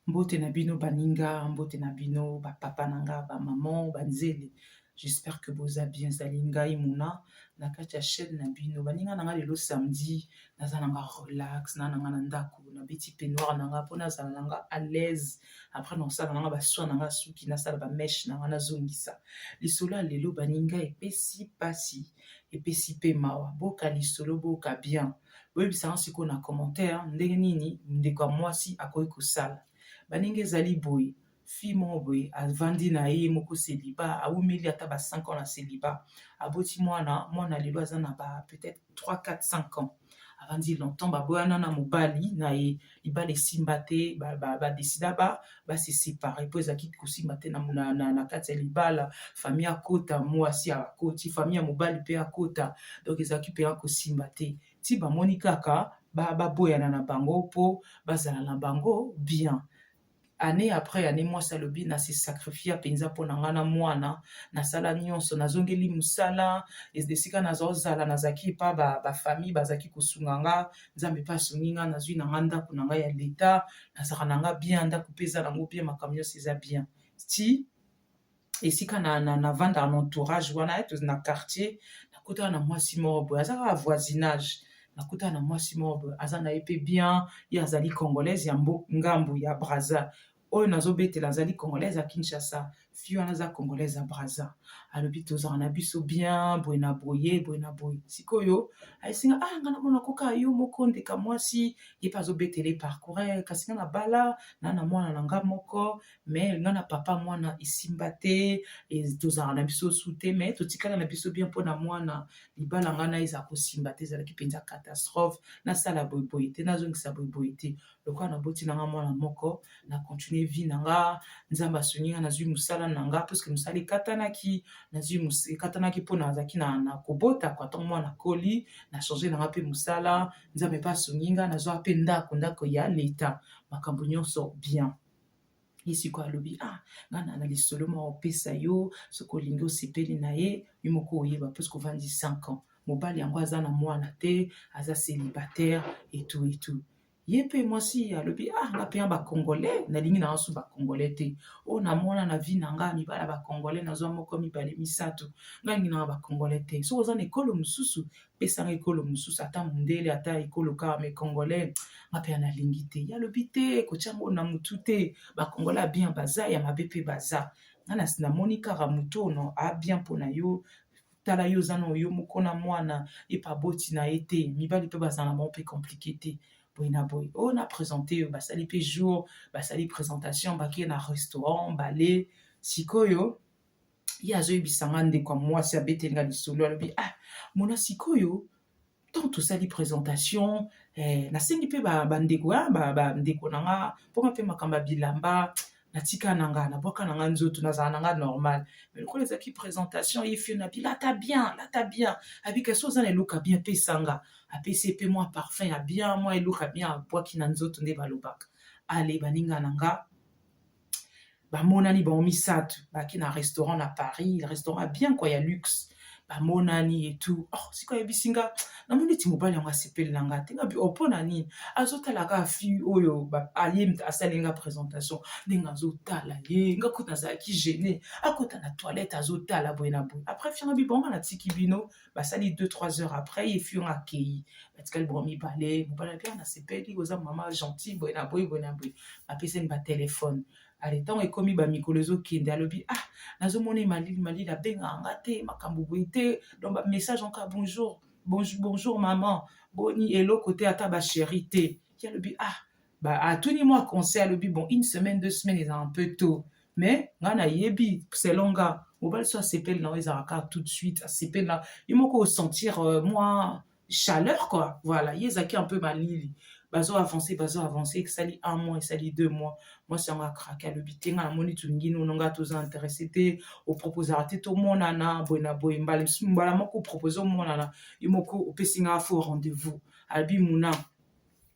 Mbote na bino baninga, mbote na bino ba papa na nga, ba maman, ba nzele. J'espère que boza bien. Ezali ngai Mona na kati ya chaîne na bino. Baninga na nga lelo samedi, naza na nga relax, na na nga na ndako, na beti peignoir na nga mpo nazala na nga à l'aise. Après nasala na nga ba soins na nga suki, nasala ba mèche na nga nazongisa. Lisolo ya lelo baninga epesi pasi, epesi pe mawa. Boka lisolo, boka bien. boyebisa yango sikoyo na commentaire ndenge nini ndeko ya mwasi akoki kosala baninga ezali boye fi moko boye avandi na ye moko seliba awumeli ata ba 5 ans na seliba aboti mwana mwana lelo aza na ba peut-être 3 4 5 ans avandi longtemps baboyana na mobali na ye libala esimba te badesida ba, ba, ba se separe mpo ezalaki kosimba te na, na, na, na kati ya libala famille akota mwasi akoti famille ya mobali mpe akota donc ezalaki mpenza kosimba te ti bamoni kaka baboyana ba na bango mpo bazala na bango bien annee après annee mwasi alobi na se sacrifia mpenza mpo na ngai na mwana nasala nyonso nazongeli mosala esika nazozala nazalaki epa bafamille ba bazalaki kosunga nga nzambe mpe asungi nga nazwi na ngai ndako na ngai ya leta nazalaka na ngai bien ndako mpe eza nango bien makambo nyonso eza bien ti esika na, na, na vandaka na entourage wana eh, na quartier nakutana na mwasi moko boye aza kaka voisinage nakutana na mwasi moko boye aza na ye mpe bien ye azali congolaise ya ngambu ya braza oyo nazobetela azali congolaise ya kinshasa fille wana aza congolaise ya braza alobi tozala na biso bien boye na boye boye na boye sikoyo ayesinga ah nga namona koka yo moko ndeka mwasi ye mpe azobetele parcoure kasi nga na bala na na mwana na nga moko mais nga na papa mwana esimba te tozalaka na biso su te mais totikala na biso bien mpo na mwana libala nga na eza kosimba te ezalaki mpenza catastrophe nasala boyeboye te nazongisa boyeboye te lokola naboti na nga mwana moko na continue vie na nga nzambe asungi nga nazwi mosala na nga puiske mosala ekatanaki nazwi ekatanaki mpo nazalaki na, na kobota kwa ntango mwana akoli na change na nga mpe mosala nzambe mpe asungi nga nazwa mpe ndako ndako ya leta makambo nyonso bien ye sikoyo alobi ah nga na na lisolo moko opesa yo soki olingi osepeli na ye yo moko oyeba mpo soki ovandi 5 ans mobali yango aza na mwana te aza célibataire etu etu ye mpe mwasi alobi ah nga mpe ya bacongolais nalingi na yanso bacongolais te oyo namona na vie na nga mibala bacongolais nazwa moko mibale misato ngalingi na yango bacongolais te soki oza na ekolo mosusu pesa nga ekolo mosusu ata mundele ata ekolo kaka me congolais nga mpe analingi te ye alobi te kotya ngo na motu te bacongolais abien baza ya mabe mpe baza nga na namoni kaka motu ono abien mpo na yo tala yo oza na yo moko na mwana ye mpe aboti na ye te mibali mpe bazala na bango mpe komplike te boye na boye oyo oh, na présente yo basali mpe jour basali présentation bakei na restaurant bale sikoyo ye azoyebisa nga ndeko ya mwasi abeteli nga lisolo alobi ah mona sikoyo ntango tosali présentation eh, nasengi mpe bandeko ba ah, bandeko ba na nga mpoma mpe makambo ya bilamba natika na nga nabwaka na nga nzoto nazala na nga normal mais lokola ezalaki présentation ye fio na bilata bien lata bien abika so oza na eloko ya bien pesa nga apesi mpe mwa parfum ya bien mwa eloko ya bien abwaki na nzoto nde balobaka ale baninga na nga bamonani bango misato bake na restaurant na paris restaurant ya bien kua ya luxe bamonani etu oh, sikoyo ayebisi nga namoni neti mobali yango asepeli na nga te ngabi opo oh, na nini azotala kaka fille oyo aye asali nga présentation ndenge azotala ye nga kuta azalaki gene akota na toilette azotala boye na boye après fie ngabi bongo natiki bino basali 2 3 heures après ye fi yango akei batikali bango mibale mobali api ah, nasepeli oza mama gentil boye na boye boye na boye bapesani batelefone ale ntango ekomi bamikolo ezokende alobi ah nazomona ye malili malili abengaka nga te makambo boye te donc bamessage anka bonjour bonjour, bonjour maman boni eloko te ata basheri te ye alobi ah ba atuni mwa conseil alobi bon une semaine deux semaines eza un peu tôt mais ngai nayebi selon nga mobali so asepeli na yo ezalaka kaka tout de suite asepeli na ye moko osentir euh, mwa chaleur quoi voilà ye ezalaki un peu malili bazo avance bazo avance esali un mois esali deux mois mwasi yango akrake alobi te ngai namoni tolingi nono ngai toza interesse te oproposaka te tomonana boye na boye mbala mosusu mbala moko opropose omonana ye moko opesi ngai fo rendez-vous alobi muna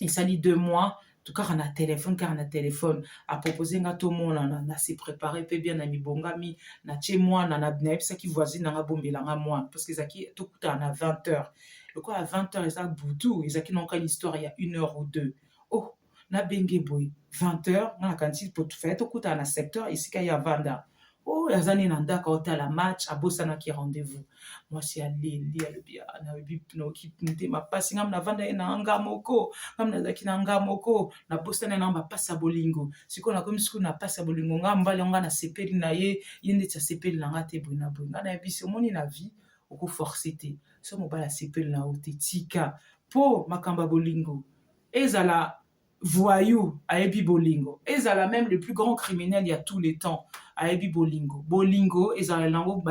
esali deux mois kaka na telefone kaka na telefone apropose nga tomonana na se prépare mpe bien na mibongami natie mwana nayebisaki voisine nanga bombela nga mwana parce que ezalaki tokutana na 20 heures lokola 20 heures eza butu ezalaki naoka histoire ya une heure ou deux oh nabenge boye 20 heures nga nakanisi faye tokutana na secteur esika ya vanda oyo oh, aza nde na ndako aotala match abosanaki rendez-vous mwasi aleli alobi ah, nayebi noki motema mpasi ngai navandaki na nga moko ngai nazalaki na nga moko nabosana na bapasi ya bolingo sikoyo nakomi sikoyo na pasi ya bolingo ngai mobali yango ngai nasepeli na ye ye ndeti asepeli na ngai te boye na boye ngai nayebisi omoni na vie okoforce te so mobali asepeli na yo te tika mpo makambo ya bolingo ezala voyou ayebi bolingo ezala meme le plus grand criminel ya tout le temps ayebi bolingo bolingo ezala nango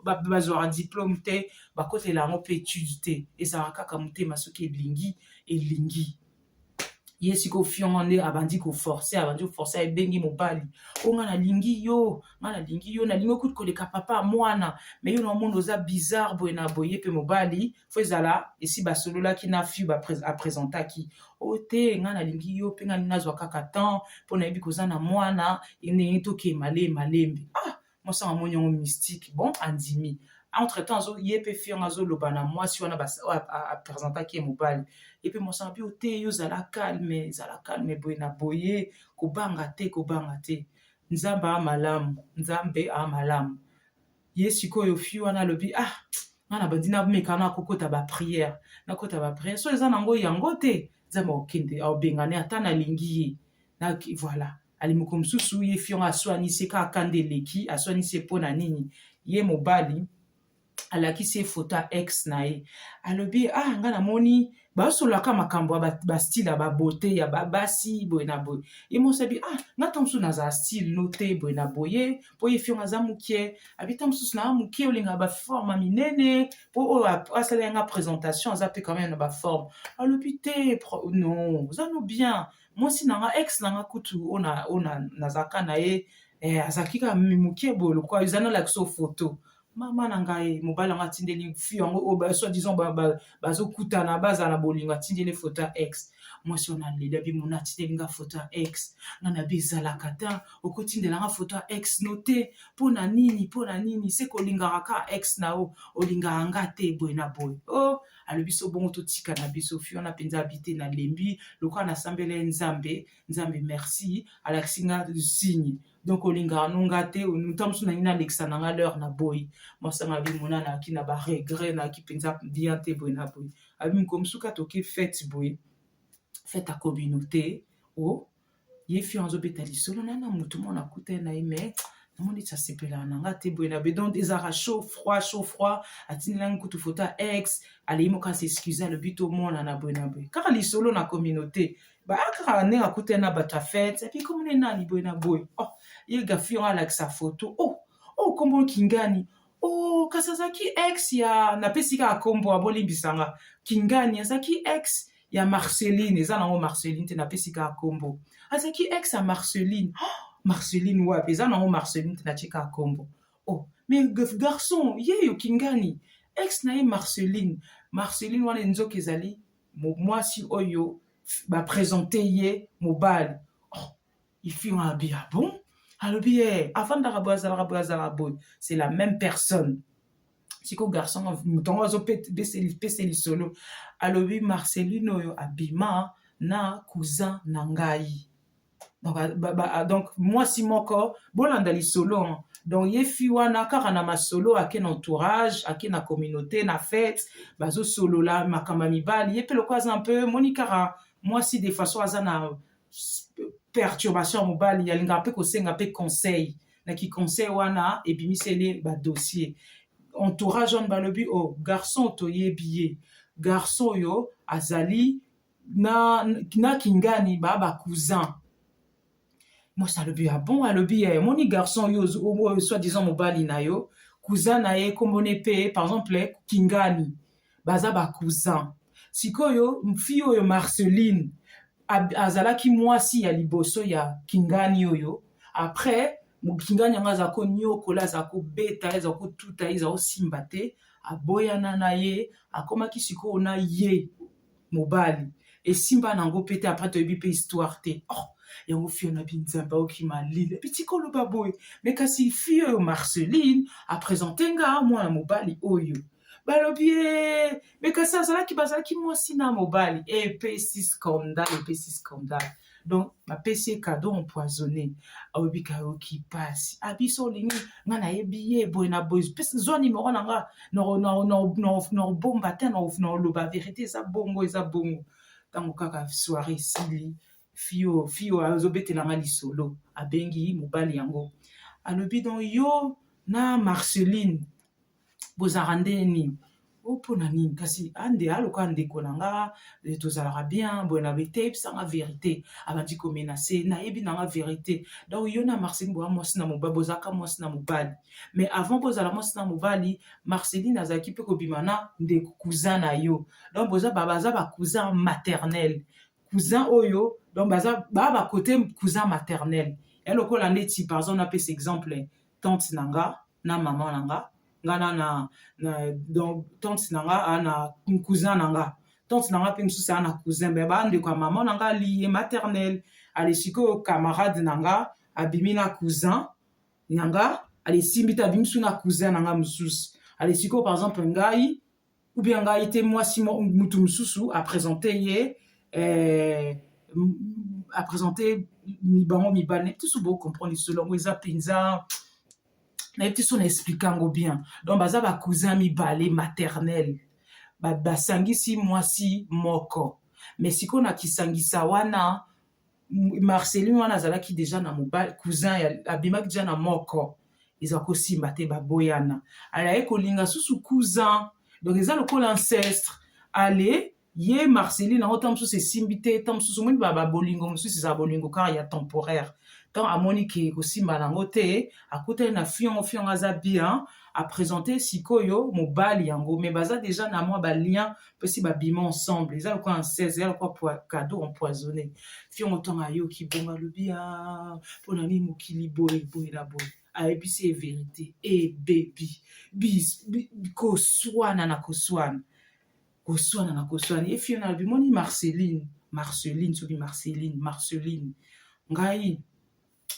bazwaka diplome te bakotela yango mpe etude te ezala kaka motema soki elingi elingi ye siko fiongo nde abandi koforce abandi koforce ebengi mobali o ngai nalingi yo ngai nalingi yo nalingi okuti koleka papa mwana me yo na omona oza bizarre boye na boye mpe mobali fo ezala esi basololaki na fiu apresentaki o oh, te ngai nalingi yo mpe ngai nalingi nazwa kaka temps mpo nayebi koza na mwana enei tokee malee malembe ah mwasi yango amoni yango mystique bon andimi entre temps azo ye mpe fi yango azoloba na mwasi wana apresentaki ye mobali ye mpe mwasi yango mpe ote yo zala calme zala calme boye na boye kobanga te kobanga te nzambe a malamu nzambe a malamu ye sikoyo fi wana alobi ah nga na bandi nameka na kokota bapriere nakota bapriere so eza nango yango te nzambe akokende aobengane ata nalingi ye na voilà alimoko mosusu ye fi yango aswanisi ye kaka kanda eleki aswanisi ye mpo na nini ye mobali alakisi ye foto ya ex na ye alobi ah nga namoni basololaka makambo ya bastile ya babote ya babasi boye na boye ye mosi abi ah nga ntango mosusu nazala stile no te boye na boye mpo ye fiongo aza moke abi ntango mosusu naa moke olingaka baforme minene mpo oyo asala yanga présentation aza mpe quand même na baforme alobi te non oza no bien mwasi na nga ex na nga kutu oyo nazalaka na ye eh, azalaki kaka moke boye lokola eza nalakisa foto mama na ngai mobali yango atindeli fi yango oyo soit disant bazokutana bazala na bolingo atindeli foto ya ex mwasi wana aleli abi mona atindeli nga foto ya ex nga na bi ezalaka ta okotindela nga foto ya ex no te mpo na nini mpo na nini se kolingaka ka ex na yo olingaka nga te boye na boye o oh, alobi so bongo totika na biso fi wana mpenza abi te nalembi lokola nasambela ye nzambe nzambe merci alakisi nga signe donc olingaka no nga te ntango mosusu nangi nalekisa na nga l'heure na boyi mwasanga bimona nayaki na baregret nayaki mpenza bien te boye na boye abi mokolo mosusu kati oke fete boye fete ya communauté o oh, ye fi azobeta lisolo na na motu mwana akutani na ye mais namoni ti asepelaka na nga te boye na be donc ezalaka chaud froid chaud froid atindelaki kutu foto ya ex alei moko asexcuse alobi tomonana boye na boye kaka lisolo na communauté baakaka ndenge akutani na bato ya fete epi komona nani boye na boye oh, ye gafi yango alakisa foto o oh, o oh, nkombo kingani o oh, kasi azalaki ex ya napesi kaka nkombo abolimbisa nga kingani azalaki ex ya marceline eza nango marceline te napesi kaka nkombo azalaki ex ya marceline oh, marceline wapi eza nango marceline te natye kaka nkombo oh, mais garçon yeyo kingani ex na ye marceline marceline wana nzoka ezali mwasi oyo bapresente ye mobali oh, ifingo abi ah bon alobi ye eh, afandaka boye azalaka boye azalaka boye c'est la même personne siko garçon moto yango azopesa lisolo alobi marceline oyo abima na cousin na ngai donc, ba, ba, ba, ah, donc mwasi moko bolanda lisolo hein. donc ye fi wana kaka na masolo ake na entourage ake na communauté na fete bazosolola makambo ya mibali ye mpe lokola aza mpe moni kaka mwasi de façon aza na perturbation ya mobali yalingaka mpe kosenga mpe conseil na kiconseil wana ebimiseli badossier entourage wana balobi o oh, garçon toyebi ye garçon oyo azali na, na kingani ba ba cousin mwasi alobi ya ah bon alobi ya eh, moni garçon yo oyo soit disant mobali na yo cousin na ye kombone mpe par exemple kingani baza ba cousin sikoyo mfi oyo marceline azalaki mwasi ya liboso ya kingani oyo après kingani yango aza konyokola aza kobeta aza kotuta aza kosimba te aboyana na ye akomaki sikoyo na ye mobali esimba nango mpe te après toyebi mpe histoire te oh yango fio na binzambe aoki malila bitiki oloba boye me kasi fio oyo marceline apresente nga mwana mobali oyo balobi ye eh, me kasi azalaki bazalaki mwasi na mobali epesi scandale epesi scandale donc bapesi ye kado empoisonne aobika yoki mpasi abiso ah, olingi nga nayebi ye boye na boye pesi zwa nimero na nga nakobomba te nakoloba verité eza bongo eza bongo ntango kaka soire esili fio fio azobetela nga lisolo abengi mobali yango alobi don yo na marceline bozalaka nde nini o oh, mpo na nini kasi ande aloka ndeko na nga eh, tozalaka bien boye na bete yebisanga verité abandi komenase nayebi nanga verité donc yo na marceline boya mwasi na mobali bozalaka mwasi na mobali mais avant bozala mwasi na mobali marceline azalaki mpe kobima na ndeko cousin na yo donc boza baza bacousin maternel cousin oyo donc baza baa bakote cousin maternel elokola ndeti par exemple napesa exemple tante na nga na mama na nga nga na na, na donc tante na nga a na cousin na nga tante na nga mpe mosusu a na cousin me bandeko ya mama na nga liye maternel ale sikoyo camarade na nga abimi na cousin na nga ale simbi te abimi su na cousin na nga mosusu ale sikoyo par exemple ngai ou bien ngai te mwasi mutu mosusu apresente ye eh, apresente bango mibale nayebi te so bocomprendre lisolo yango eza mpenza nayebi te so na explike yango bien donc baza bacousin mibale maternel basangisi mwasi moko me sikoyo na kisangisa wana marceline wana azalaki deja na mobali cousin abimaki deja na moko eza kosimba te baboyana alaye kolinga susu cousin donc eza lokola ancestre ale ye marceline yango ntango mosusu esimbi te ntango mosusu omoni baba bolingo mosusu eza bolingo kaka ya temporaire ntango amoni ke kosimba nango te akutani na fiongo fiongo aza bien apresente sikoyo mobali yango me baza deja na mwa balien pesi babima ensemble eza lokola en 16 eza lokola cadeau empoisonné fiongo ntango ayoki bongo alobi a ah, mpo na nini mokili boye boye na boye ayebisi ye verité ebebi koswana na koswana koswana na koswana ye fiona alobi moni marceline marceline soki marceline marceline ngai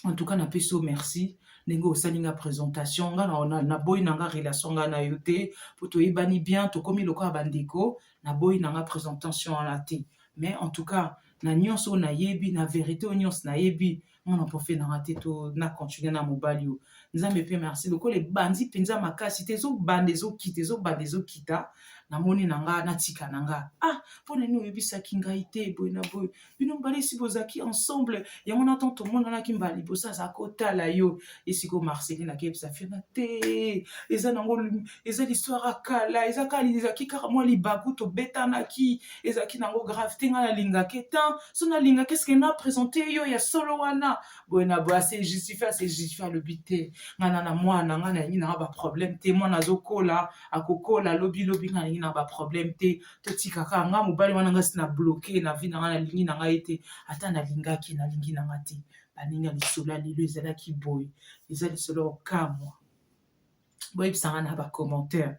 en tout cas na pesi yo merci ndenge osali nga présentation nga naboyi na nga relation nga na yo te mpo toyebani bien tokomi lokola bandeko naboyi na nga présentation wana te mais en tout cas na nyonso oyo nayebi na verité oyo nyonso nayebi mwana profe na nga te to na continue na mobali oyo nzambe mpe merci lokola ebandi mpenza makasi te ezobanda ezokita ezobanda ezokita namoni na nga natika na nga ah mpo na nini oyebisaki ngai te boye na boye bino mibale esi bozalaki ensemble yango na ntango tomonanaki mbala liboso azalaki kotala yo esiko marceline akebisa fiona te eza nango eza listware ya kala eza kaka ezalaki kaka mwa libaku tobetanaki ezalaki nango grave te ngai nalingaka etan so nalingaka eske na présente yo ya solo wana boye na boye ase justifie ase justifie alobi te ngai na na mwana ngai nalingi nanga baproblème te mwana azokola akokola lobilobi ngai nalingi nanga baproblème te totika kaka nga mobali wana nga si na bloke na vi na nga nalingi na ngai te ata nalingaki nalingi na nga te baninga lisolo ya lelo ezalaki boye eza lisolo ya kokamwa boyebisa nga na bacommentaire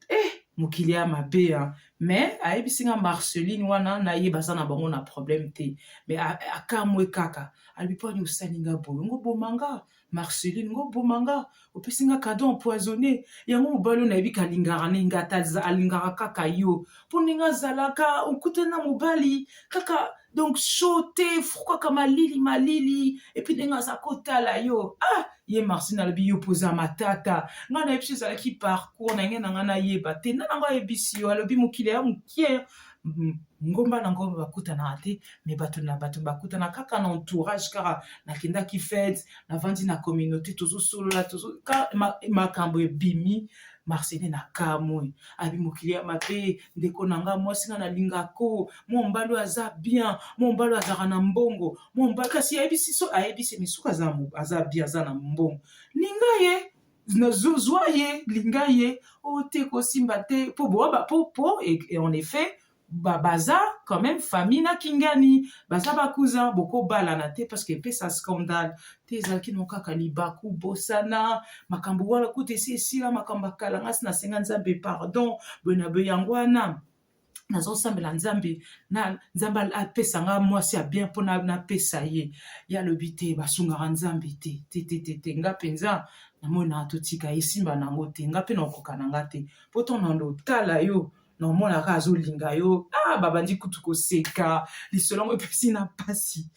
eh mokili ya mabe ya mais ayebisi nga marceline wana na ye baza na bango na problème te mais akamwe kaka alobi mpo ani osali nga boye ngoboma nga Marceline ngo boma nga opesi nga cadeau empoisonné yango mobali oyo nayebi kalingaka ne nga ata alingaka kaka yo mpo ndenge azalaka okute na mobali kaka donc show te fru kaka malili malili epuis ndenge aza kotala yo ah ye marcine alobi yo mpoza matata ngai nayebisi ezalaki parcours na ngai na ngai nayeba te nda na ngai ayebisi yo alobi mokili ya mokie ngomba na ngomba bakutanaka te me bato na bato bakutana kaka na entourage kaka nakendaki fete navandi na communauté tozosolola makambo ebimi marcele na kamwe abi mokili ya mabe ndeko na nga mwasi nga nalingako mombalo aza bien mombalo azalaka na mbongo mombalo kasi ayebisi so ayebisi misuku aza bien aza na mbongo linga ye zwa ye linga ye o oh, te kosimba te mpo boaba mpo mpo en effet baza quand même famille na kingani baza bakousin bokobalana te parce que epesa scandale te ezalaki no kaka libaku bosana makambo wana kuta esi esila makambo akalangasi nasenga nzambe pardon boye na boye yango wana nazosambela nzambe na nzambe apesa nga mwasi ya bien mpo napesa ye ye alobi te basungaka nzambe te tetetete nga mpenza namonaka totika esimba na yango te nga mpe nakokoka na nga te mpo to na lotala yo naomonaka azolinga yo ah, babandi kutu koseka lisolo yango epesi na mpasi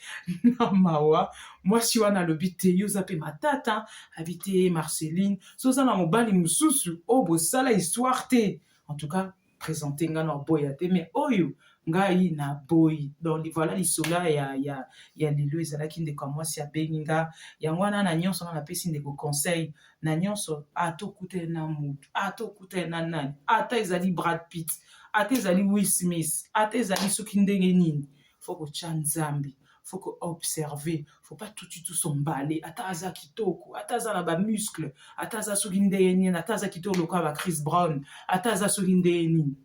na mawa mwasi wana alobi te yo oza mpe matata abi te marceline so oza na mobali mosusu oyo oh, bosala histoire te en tout cas présente nga na boya te mais oyo ngai na boyi donc voilà lisolo ya ya ya lelo ezalaki ndeko ya mwasi abengi nga yango wana na nyonso nga napesi ndeko conseil na nyonso atokutele na motu atokutele na nani ata ezali brad pitt ata ezali will smith ata ezali soki ndenge nini faut kotya nzambe faut ko observer faut pas tout tout son mbale ata aza kitoko ata aza na ba muscle ata aza soki ndeye nini ata aza kitoko lokola ba Chris Brown ata aza soki ndeye nini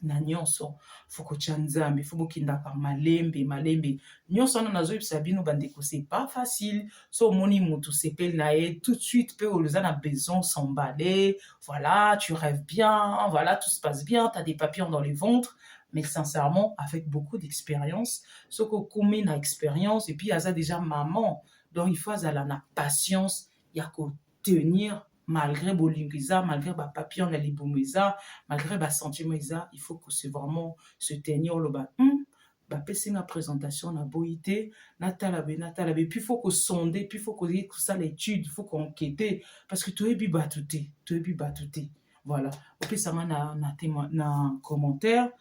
na nyonso faut kotya nzambe faut bokendaka malembe malembe nyonso wana nazoyebisa bino bandeko c'est pas facile so omoni moto sepeli na ye tout de suite mpe oloza na besoin s'emballer voilà tu rêves bien voilà tout se passe bien t'as des papillons dans le ventre mais sincèrement avec beaucoup d'expérience soki okomi na expérience et puis aza déjà maman donc il faut azala na patience ya kotenir malgré bolingo eza malgré bapapillon na libumu eza malgré basentiment eza il faut kose vraiment se tenir oloba hmm, bapesi nga présentation na boyi te natala be natala be puis faut kosonde puis faut koye kosala étude faut koenkete parce que toyebi bato te toyebi bato te voilà opesanga na, na, tema, na commentaire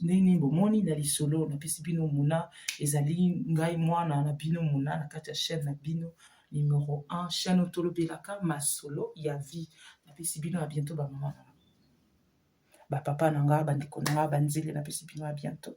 ndenge nini bomoni na lisolo napesi bino mona ezali ngai mwana na bino mona na kati ya chaîne na bino numero 1 chaîne oyo tolobelaka masolo ya vie napesi bino ya bientôt bamama na bapapa na ngai bandeko na ngai banzele napesi bino ya bientôt